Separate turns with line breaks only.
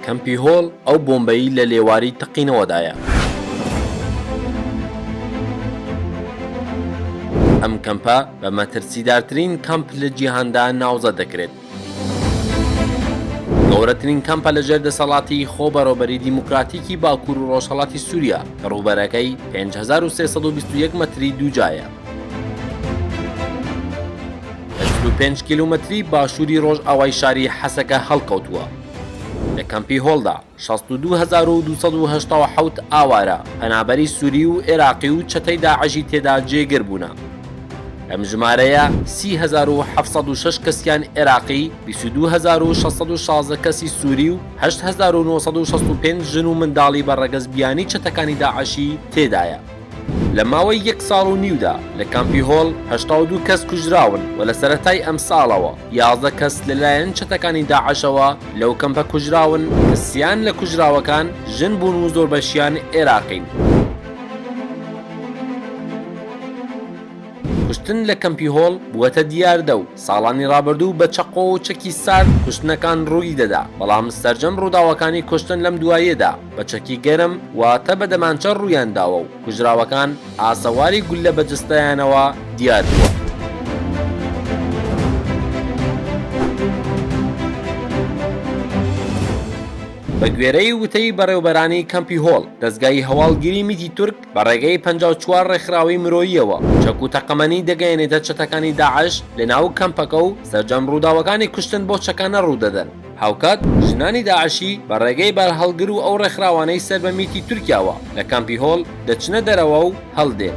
کەمپی هۆل ئەو بۆمبەی لە لێواری تەقینەوەدایە. ئەم کەمپە بە مەترسیدارترین کەمپ لە جیهاندا ناوزەد دەکرێت. گەورەترین کەمپە لە ژێر دەسەڵاتی خۆ بەڕێوبەری دیموکراتیکی باکوور و ڕۆژهەڵاتی سووریا کە ڕووبەرەکەی 5321 مەتری دووجایە. لە چل و پێنج کیلومەتری باشووری ڕۆژئاوای شاری حەسەکە هەڵکەوتووە. لە کەمپی هۆلدا شەست و دوو هەزار و دوو سەد و هەشتا و حەوت ئاوارە، پەنابەری سووری و ئێراقی و چەتەی داعشی تێدا جێگر بوونە. لەم ژمارەیە سی هەزار و حەفت سەد و شەش کەسیان ئێراقی، بیست و دوو هەزار و شەش سەد و شازدە کەسی سووری و هەشت هەزار و نۆ سەد و شەست و پێنج ژن و منداڵی بە ڕەگەز بیانی چەتەکانی داعشی تێدایە. لە ماوەی یەک ساڵ و نیودا لە کامپی هۆل هەشتا و دوو کەس کوژراون و لە سەرەتای ئەمساڵەوە یازدە کەس لەلایەن چەتەکانی داعشەوە لەو کەمپە کوژراون کە سیان لە کوژراوەکان ژن بوون و زۆربەشیان ئێراقین. کوشتن لە کەمپی هۆل بووەتە دیاردە و ساڵانی ڕابردوو بە چەقۆ و چەکی سارد کوشتنەکان ڕووی دەدا، بەڵام سەرجەم ڕووداوەکانی کوشتن لەم دواییەدا، بە چەکی گەرم واتە بە دەمانچە ڕوویان داوە و کوژراوەکان ئاسەواری گوللە بە جەستەیانەوە دیار بووە. بە گوێرەی وتەی بەڕێوبەرانی کەمپی هۆل، دەزگای هەواڵگیری میتی تورک بە ڕێگەی پەنجا و چوار ڕێکخراوی مرۆییەوە چەک و تەقەمەنی دەگەیەنێتە چەتەکانی داعش لە ناو کەمپەکە و سەرجەم ڕووداوەکانی کوشتن بەو چەکانە ڕوو دەدەن. هاوکات ژنانی داعشی بە ڕێگەی بارهەڵگر و ئەو ڕێکخراوانەی سەر بە میتی تورکیاوە لە کامپی هۆل دەچنە دەرەوە و هەڵدێن.